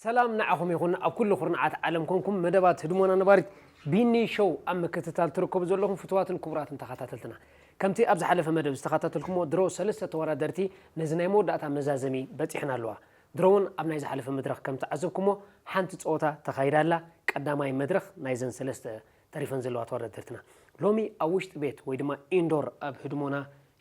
ሰላም ንዓኹም ይኹን ኣብ ኩሉ ኩርናዓት ዓለም ኮንኩም መደባት ህድሞና ነባሪት ቢኒ ሾው ኣብ ምክትታል ትርከቡ ዘለኹም ፍትዋትን ክቡራትን ተኸታተልትና ከምቲ ኣብ ዝሓለፈ መደብ ዝተኸታተልኩሞ ድሮ ሰለስተ ተወዳደርቲ ነዚ ናይ መወዳእታ መዛዘሚ በጺሐን ኣለዋ። ድሮ ውን ኣብ ናይ ዝሓለፈ መድረኽ ከም ተዓዘብኩሞ ሓንቲ ጸወታ ተኻይዳ ኣላ፣ ቀዳማይ መድረኽ ናይዘን ሰለስተ ተሪፈን ዘለዋ ተወዳደርትና። ሎሚ ኣብ ውሽጢ ቤት ወይ ድማ ኢንዶር ኣብ ህድሞና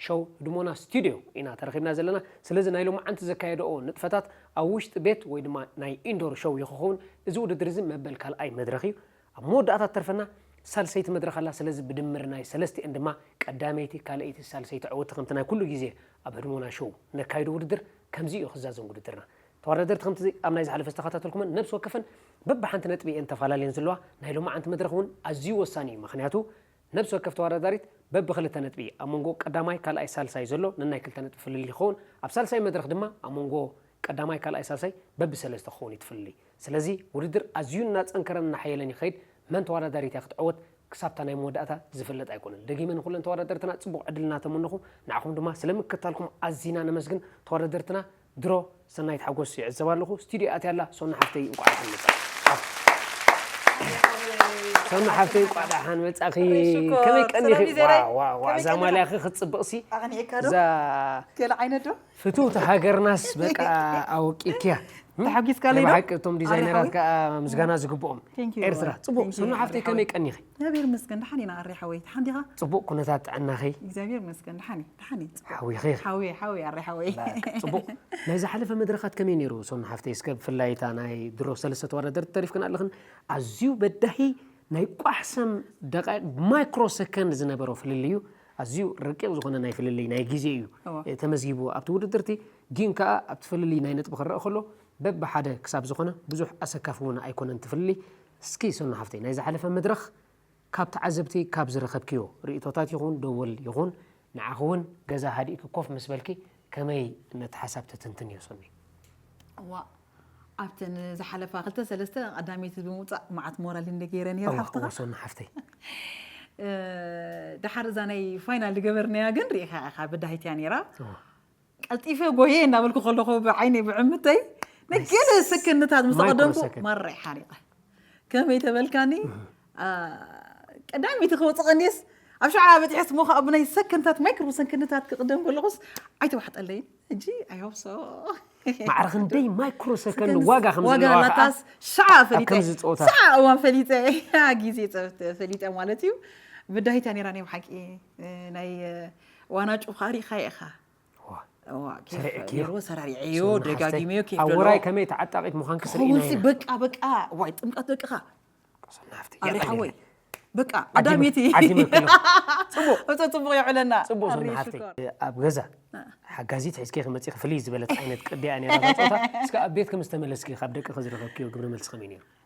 ሸው፣ ህድሞና ስቱድዮ፣ ኢና ተረኺብና ዘለና። ስለዚ ናይ ሎምዓንቲ ዘካየደኦ ንጥፈታት ኣብ ውሽጢ ቤት ወይ ድማ ናይ ኢንዶር ሸው ይኸኸውን። እዚ ውድድር እዚ መበል ካልኣይ መድረኽ እዩ። ኣብ መወዳእታ እትተርፈና ሳልሰይቲ መድረኽ ኣላ፣ ስለዚ ብድምር ናይ ሰለስቲኤን ድማ ቀዳመይቲ፣ ካልኣይቲ፣ ሳልሰይቲ ዓወቲ ከምቲ ናይ ኩሉ ግዜ ኣብ ህድሞና ሾው ነካይዶ ውድድር ከምዚ ኢዩ ክዛዘም ውድድርና። ተዋዳደርቲ ከምቲ ኣብ ናይ ዝሓለፈ ዝተኸታተልኩመን ነብሲ ወከፈን በብሓንቲ ነጥቢ ኢየን ተፋላልየን ዝለዋ፣ ናይ ሎማዓንቲ መድረኽ ውን ኣዝዩ ወሳኒ ኢዩ፣ መኽንያቱ ነብሲ ወከፍ ተወዳዳሪት በቢ ክልተ ነጥቢ ኣብ መንጎ ቀዳማይ፣ ካልኣይ፣ ሳልሳይ ዘሎ ነናይ ክልተ ነጥቢ ፍልልይ ክኸውን፣ ኣብ ሳልሳይ መድረኽ ድማ ኣብ መንጎ ቀዳማይ፣ ካልኣይ፣ ሳልሳይ በቢ ሰለስተ ክኸውን እዩ እቲ ፍልልይ። ስለዚ ውድድር ኣዝዩ እናጸንከረን እናሓየለን ይኸይድ፣ መን ተወዳዳሪት እያ ክትዕወት ክሳብ'ታ ናይ መወዳእታ ዝፍለጥ ኣይኮነን። ደጊመ ንኹለን ተወዳደርትና ጽቡቕ ዕድል እናተመነኹ ንዓኹም ድማ ስለምክትታልኩም ኣዚና ነመስግን፣ ተወዳደርትና ድሮ ሰናይት ሓጎስ ይዕዘባ ኣለኹ ስቱድዮ ኣትያ ኣላ ሶና ሓፍተይ እንቋዕ ደሓን መጻእኪ ሶና ሓፍተይ እንቋዕ ደሓን መጻእኺ ወይ ሽኮር፣ ከመይ ሰላም ቀኒኺ እዩ ዘረይ። ዋው ዋው ዋው ከመይ እዛ ቀኒኻ? ማልያኺ ክትጽብቕሲ ኣቕኒዕካ ዶ እዛ ገለ ዓይነት ዶ ፍትውቲ ሃገርናስ በቃ ኣወቂክያ ተሓጒስካለይ ዶ? ብሓቂ እቶም ዲዛይነራት ኣሪሓዊ? ከዓ ምስጋና ዝግብኦም Thank you. ኤርትራ ጽቡቕ Thank you. ሶና ሓፍተይ ኣሪሓዊ። ከመይ ቀኒኺ እግዚኣብሔር ይመስገን ድሓን ኢና ኣሬ ሓወይ ድሓን ዲኻ። ጽቡቅ ኩነታት ጥዕናኺ። እግዚኣብሔር ይመስገን ድሓን እየ ድሓን እየ ጽቡቅ ሓዊኺ። ሓውየ ሓውየ ኣሬ ሓወይ በቃ ጽቡቅ ናይ ዝሓለፈ መድረኻት ከመይ ነይሩ ሶና ሓፍተይ እስከ ብፍላይ እታ ናይ ድሮ ሰለስተ ተወዳደርቲ ተሪፍክን ኣለኽን ኣዝዩ በዳሂ ናይ ቋሕ ሰም ደቃይቅ ማይክሮ ሰከንድ ዝነበሮ ፍልልዩ ኣዝዩ ረቂቅ ዝኾነ ናይ ፍልልይ ናይ ግዜ እዩ እወ። እ፣ ተመዝጊቡ ኣብቲ ውድድርቲ ግን ከኣ ኣብቲ ፍልልይ ናይ ነጥቢ ክረአ ከሎ በብሓደ ክሳብ ዝኾነ ብዙሕ ኣሰካፊ እውን ኣይኮነን እቲ ፍልልይ እስኪ ሰኑ ሓፍተይ ናይ ዝሓለፈ መድረኽ ካብ ተዓዘብቲ ካብ ዝረኸብክዮ ሪኢቶታት ይኹን ደወል ይኹን ንዓኺ ውን ገዛ ሃዲእኪ ኮፍ ምስ በልኪ ከመይ ነቲ ሓሳብ ተትንትንዮ ሰኑየ። እዋእ ኣብተን ዝሓለፋ ክልተ ሰለስተ ቀዳመይቲ ብምውጻእ መዓት ሞራል እንደ ገይረ ነይረ እወ እወ ሓፍትኻ ሰኑ ሓፍተይ ድሓር እዛ ናይ ፋይናል ዝገበርናያ ግን ርኢኻ ኢኻ በዳሂት እያ ነይራ እወ ቀልጢፈ ጎየ እናበልኩ ከለኹ ብዓይነይ ብዕምተይ ንገለ ሰከንድታት ምስ ተቐደምኩ ማራ ሓሪቐ ከመይ ተበልካኒ ቀዳሚቲ ክወፅእ ቀንየስ ኣብ ሸዓ በፂሐስ ሞ ከዓ ብናይ ሰከንድታት ማይክሮ ሰከንድታት ክቕደም ከለኹስ ኣይተዋሕጠለይን ሕጂ ኣይሆብሶ ማዕረ ክንደይ ማይክሮ ሰከንድ ዋጋ ከምዘለዋካስ ሸዓ ፈሊጠ ሸዓ እዋን ፈሊጠ ግዜ ፈሊጠ ማለት እዩ ብዳሂታ ነራ ናይ ብሓቂ ናይ ዋና ጩኻሪኻ ኢኻ ሰራሪዐዮ ደጋጊመዮ ውራይ ከመይ ተዓጣቂት ምዃንኪ ስርኢናይና ሲ በቃ በቃ ዋይ ጥምቀት ደቅኻ ኣሪ ሓወይ በቃ ቀዳሚቲ ፅቡቅ የዕለና ፅቡቅ ዝና ሓፍተይ ኣብ ገዛ ሓጋዚት ሒዝኪ ክመፅእኺ ፍልይ ዝበለት ዓይነት ቅዲያ ነራ ፆታ እስከ ኣብ ቤትኪ ምስ ተመለስኪ ካብ ደቅኺ ዝረኸብክዮ ግብረ መልሲ ከመይ ነይሩ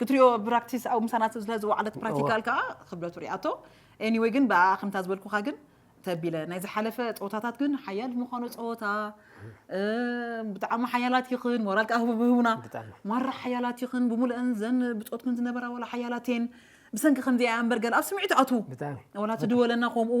ክትሪኦ ብራክቲስ ኣብ ምሳና ስለ ዝወዓለት ፕራክቲካል ከኣ ክብደቱ ሪኣቶ ኤኒወይ ግን ብኣኣ ከምታ ዝበልኩካ ግን ተቢለ ናይ ዝሓለፈ ጸወታታት ግን ሓያል ምዃኑ ጸወታ ብጣዕሚ ሓያላት ይኽን ሞራል ከኣ ህቡና ማራ ሓያላት ይኽን ብምሉእን ዘን ብጾትክን ዝነበራ ወላ ሓያላት እየን ብሰንኪ ከምዚኣ እምበር ገለ ኣብ ስምዒት ኣቱ ወላ ትድወለና ከምኡ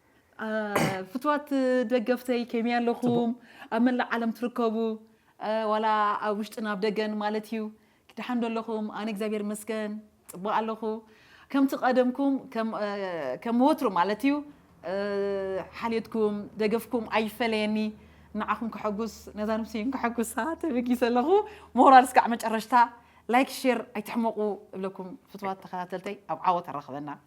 ፍትዋት ደገፍተይ ከመይ ኣለኹም ኣብ መላእ ዓለም ትርከቡ ዋላ ኣብ ውሽጥን ኣብ ደገን ማለት እዩ ደሓን ዶ ኣለኹም ኣነ እግዚኣብሔር ይመስገን ፅቡቅ ኣለኹ ከምቲ ቀደምኩም ከም ወትሩ ማለት እዩ ሓልዮትኩም ደገፍኩም ኣይፈለየኒ ንዓኹም ከሐጉስ ነዛ ንብሰይን ከሐጉሳ ተበጊሰ ኣለኹ ሞራል እስካዕ መጨረሽታ ላይክ ሼር ኣይትሕመቁ እብለኩም ፍትዋት ተኸታተልተይ ኣብ ዓወት ኣራኽበና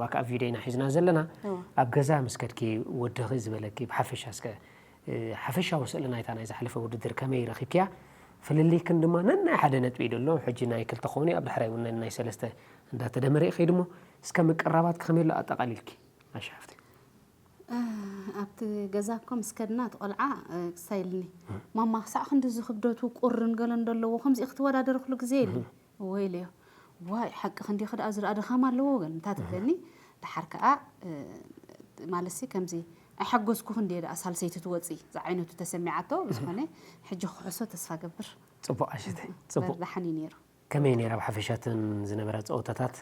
ባክ ኣብ ቪድዮ ኢና ሒዝና ዘለና ኣብ ገዛ ምስ ከድኪ ወድኺ ዝበለኪ ብሓፈሻ እስከ ሓፈሻዊ ስእሊ ናይታ ናይ ዝሓለፈ ውድድር ከመይ ረኺብክያ ፍልልይክን ድማ ነናይ ሓደ ነጥቢ እዩ ደሎ ሕጂ ናይ ክልተ ክኾኑ ኣብ ዳሕራይ እውን ነናይ ሰለስተ እንዳተደመረ እዩ ከይድሞ እስከ ምቅራባት ከመይ ኣሎ ኣጠቃሊልኪ ኣሻፍቲ ኣብቲ ገዛ እኮ ምስ ከድና እቲ ቆልዓ ክሳይ ኢልኒ ማማ ክሳዕ ክንዲ እዚ ክብደቱ ቁርን ገለን ደለዎ ከምዚ ክትወዳደርክሉ ግዜ የለን እወ ኢለዮ። ዋይ ሓቅኺ እንዲኺ ደኣ እዚ ደኣ ድኻም ኣለዎ በል እንታ ትብለኒ ደሓር ከኣ ማለትሲ ከምዚ ኣይሓጎስኩኽን ድየ ደኣ ሳልሰይቲ ትወጺ ዝዓይነቱ ተሰሚዓቶ ብዝኾነ ሕጂ ክሕሶ ተስፋ እገብር። ጽቡቕ ዓሸተይ ጽቡቕ። ደሓን እዩ ኔሩ። ከመይ ኔራ ብሓፈሻ እተን ዝነበራ ጸወታታት?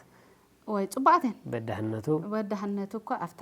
እዋይ ጽቡቓት እየን። በዳህነቱ? በዳህነቱ እኳ ኣብታ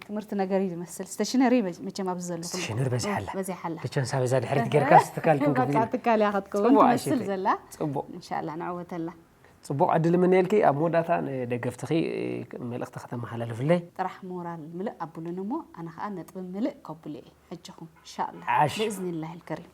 ትምህርቲ ነገር እዩ ዝመስል ስተሽነሪ መቸም ኣብዚ ዘለኹም ስተሽነሪ በዚሓ ኣላ በዚሓ ኣላ ብቸንሳ በዛ ድሕሪት ጌርካ ስትካል ክንክብዚ ትካል እያ ክትከውን ትመስል ዘላ ፅቡቕ እንሻላ ንዕወተላ ፅቡቕ ዕድል ምንየልኪ ኣብ መወዳእታ ንደገፍትኺ መልእኽቲ ከተመሓላልፍለይ ጥራሕ ሞራል ምልእ ኣብሉኒ እሞ ኣነ ከዓ ነጥቢ ምልእ ከብሉ እየ ሕጅኹም እንሻላ ብእዝኒላሂ ልከሪም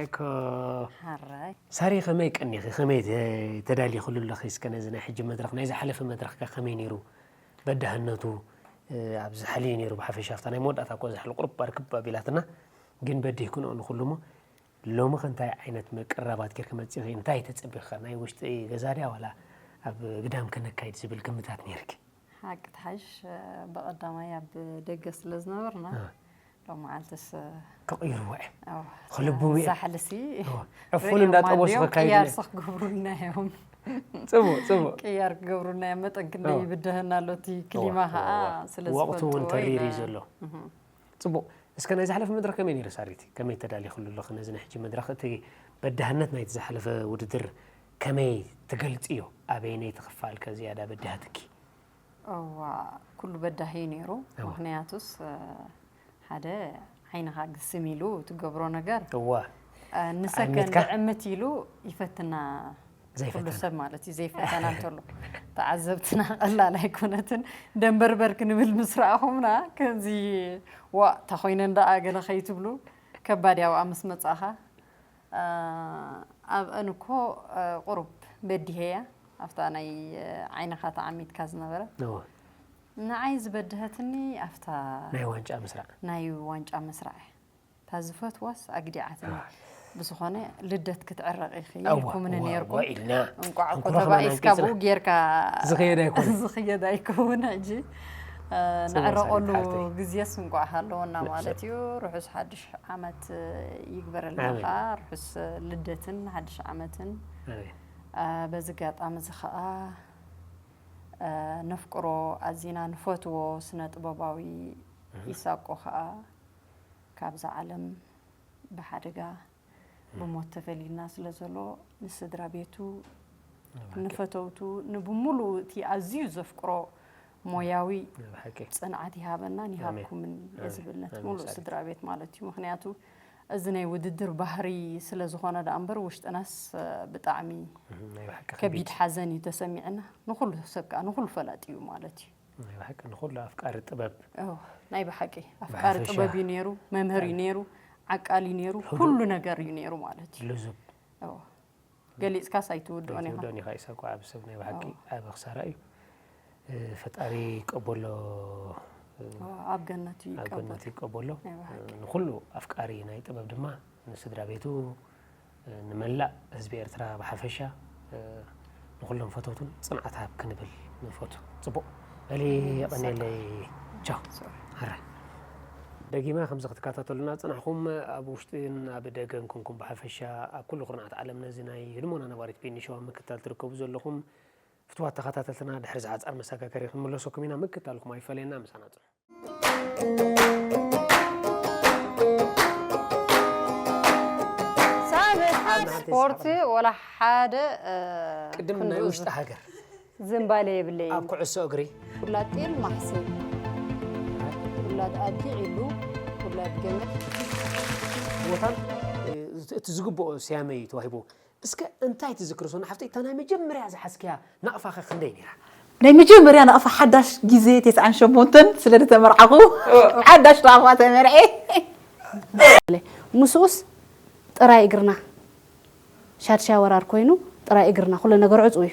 ኤኮ ሐራይ። ሳሪ ከመይ ቀኒኺ ከመይ ተዳሊኽሉ ኣለኺ እስከ ነዚ ናይ ሕጂ መድረኽ ናይ ዝሓለፈ መድረኽ ከ ከመይ ኔሩ በዳህነቱ ኣብ ዝሓልዩ ኔሩ ብሓፈሻ ኣብታ ናይ መወዳእታ እኮ ዛሕሉ ቁሩብ ኣርክብ ኣቢላትና ግን በዲህክንኦ ንኹሉ እሞ ሎምኸ እንታይ ዓይነት ምቅርራባት ጌርኪ መጺኺ እንታይ ተጸቢኺ ከ ናይ ውሽጢ ገዛ ድያ ዋላ ኣብ ግዳም ከነካይድ ዝብል ግምታት ኔርኪ? ሓቂ ትሓይሽ ብቐዳማይ ኣብ ደገ ስለ ዝነበርና ሎመዓልትስ ክቕይርዎ እዮም ክልብቡ ዛሕልሲ ዕፉን እንዳጠበሱ ክያርሲ ክገብሩና እዮም ፅቡቅ ፅቡቅ ቅያር ክገብሩና እዮም መጠን ክንደይ ይብድሀና ኣሎ እቲ ክሊማ ከዓ ስለዝፈልጥዎ ወቅቱ እውን ተሪር እዩ ዘሎ ጽቡቕ እስከ ናይ ዝሓለፈ መድረኽ ከመይ ነይሩ ሳሪት ከመይ ተዳሊኽሉ ኣለኺ ነዚ ናይ ሕጂ መድረኽ እቲ በዳህነት ናይቲ ዝሓለፈ ውድድር ከመይ ትገልጽዮ ኣበየነይቲ ክፋል ከ ዝያዳ በዲሃትኪ? እዋ ኩሉ በዳሂ እዩ ነይሩ ምኽንያቱስ ሓደ ዓይንኻ ግስም ኢሉ ትገብሮ ነገር እዋ ንሰከንድ ዕምት ኢሉ ይፈትና ዘይፈተና ሰብ ማለት እዩ ዘይፈተና እንተሎ ተዓዘብትና ቀላል ኣይኮነትን ደንበርበር ክንብል ምስ ረኣኹምና ከምዚ ዋእ ተኾይነን ደኣ ገለ ከይትብሉ ከባድ እያ ኣብኣ ምስ መጻኻ ኣብአን እኮ ቁሩብ በዲሀያ ኣብታ ናይ ዓይንኻ ተዓሚትካ ዝነበረ ንዓይ ዝበድሀትኒ ኣብታ ናይ ዋንጫ ምስራዕ ናይ ዋንጫ ምስራዕ እታ ዝፈትዋስ ኣግዲዓትኒ ብዝኾነ ልደት ክትዕረቂ ኢኺ ኢልኩምኒ ነይርኩም እንቋዕ እኮ ተባኢስካ ብኡ ጌርካ ዝኽየድ ኣይከውን ሕጂ ንዕረቐሉ ግዜስ እንቋዕ ሃለወና ማለት እዩ ርሑስ ሓድሽ ዓመት ይግበረልና ከዓ ርሑስ ልደትን ሓድሽ ዓመትን በዚ ኣጋጣሚ እዚ ከዓ ነፍቅሮ ኣዚና ንፈትዎ ስነ ጥበባዊ ይሳቆ ከዓ ካብዛ ዓለም ብሓደጋ ብሞት ተፈልዩና ስለ ዘሎ ንስድራ ቤቱ ንፈተውቱ ንብምሉኡ እቲ ኣዝዩ ዘፍቅሮ ሞያዊ ፅንዓት ይሃበናን ይሃብኩምን እየ ዝብል ነቲ ሙሉእ ስድራ ቤት ማለት እዩ ምክንያቱ እዚ ናይ ውድድር ባህሪ ስለ ዝኾነ ደኣ እምበር ውሽጥናስ ብጣዕሚ ከቢድ ሓዘን እዩ ተሰሚዕና ንኩሉ ሰብ ከዓ ንኩሉ ፈላጢ እዩ ማለት እዩ ናይ ብሓቂ ንኹሉ ኣፍቃሪ ጥበብ ናይ ብሓቂ ኣፍቃሪ ጥበብ እዩ ነይሩ፣ መምህር እዩ ነይሩ፣ ዓቃል እዩ ነይሩ፣ ኩሉ ነገር እዩ ነይሩ ማለት እዩ። ልዙብ ገሊፅካስ ኣይትውድኦን ኢኻ ኣይትውድኦን ኢኻ ኢሳቅ ወዓቢ ሰብ ናይ ብሓቂ ዓቢ ክሳራ እዩ። ፈጣሪ ይቀበሎ ኣብ ገነት እዩ ኣብ ገነት ይቀበሎ። ንኹሉ ኣፍቃሪ ናይ ጥበብ ድማ ንስድራ ቤቱ ንመላእ ህዝቢ ኤርትራ ብሓፈሻ ንኹሎም ፈተውቱን ጽንዓት ሃብ ክንብል ንፈቱ። ጽቡቕ በሊ የቐኔለይ ቻው ሃራይ ደጊመ ከምዚ ክትከታተሉና ጽናሕኩም ኣብ ውሽጥን ኣብ ደገን ኩንኩም ብሓፈሻ ኣብ ኩሉ ኩርናዓት ዓለም ነዚ ናይ ህድሞና ነባሪት ፒኒ ሾው ኣብ ምክትታል ትርከቡ ዘለኹም ፍትዋት ተኸታተልትና ድሕሪ ዝሓጻር መሰጋገሪ ክንምለሰኩም ኢና ምክትታልኩም ኣይፈለየና ምሳና ጽንሑ። ስፖርት ወላ ሓደ ቅድም ናይ ውሽጢ ሃገር ዝምባለ የብለ ኣብ ኩዕሶ እግሪ ውላድ ጤል ማሕሲ ውላድ ኣዲ ዒሉ ውላድ ገመድ ቦታን እቲ ዝግብኦ ስያመ እዩ ተዋሂቡ እስከ እንታይ ትዝክሪ ሶና ሓፍተይ እታ ናይ መጀመርያ ዝሓዝክያ ናቕፋ ከ ክንደይ ነይራ? ናይ መጀመርያ ናቕፋ ሓዳሽ ግዜ ተስዓን ሸሞንተን ስለ ዝተመርዓኹ ሓዳሽ ናቕፋ ተመርዕየ። ምስኡስ ጥራይ እግርና ሻድሻይ ወራር ኮይኑ ጥራይ እግርና ኩሉ ነገር ዕጹው እዩ።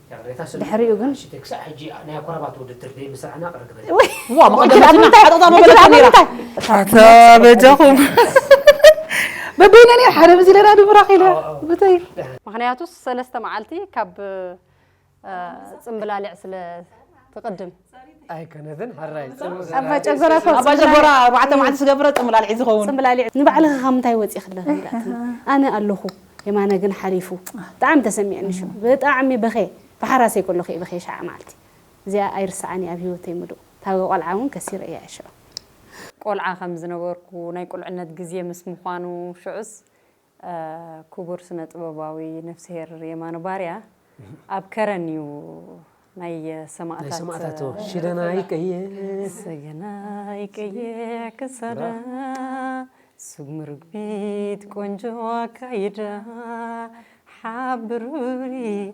ድሕሪኡ ግን ምክንያቱ ሰለስተ መዓልቲ ካብ ፅምብላሊዕ ስለ ትቅድም። ኣይኮነትን ሕራይ ጽምእ ኣብ ማጨጎራ እኮ ኣብ ኣጀጎራ ኣርባዕተ መዓልቲ ዝገብረ ጽምላሊዕ ዝኸውን ጽምብላሊዕ ንባዕልኺ ካብ ምንታይ ወጺእኺ ኣለኺ ኢላትኒ ኣነ ኣለኹ የማነ ግን ሓሊፉ ብጣዕሚ ተሰሚዕኒ ሽዑ ብጣዕሚ በኽየ ብሓራሰይ ከለኹ እየ በኽየ ሸዓ መዓልቲ እዚኣ ኣይርስዓን እየ ኣብ ሂወተይ ምሉእ እታ ቆልዓ እውን ከሲረ እየ ሽዑ። ቆልዓ ከም ዝነበርኩ ናይ ቁልዕነት ግዜ ምስ ምዃኑ ሽዑስ ኩቡር ስነ ጥበባዊ ነፍስሄር የማነ ባርያ ኣብ ከረን እዩ ናይ ሰማእታት ሽደናይ ቀየ ሰገናይ ቀየ ክሳዳ ስጉሚ ርግቢት ቆንጆ ኣካይዳ ሓብሩኒ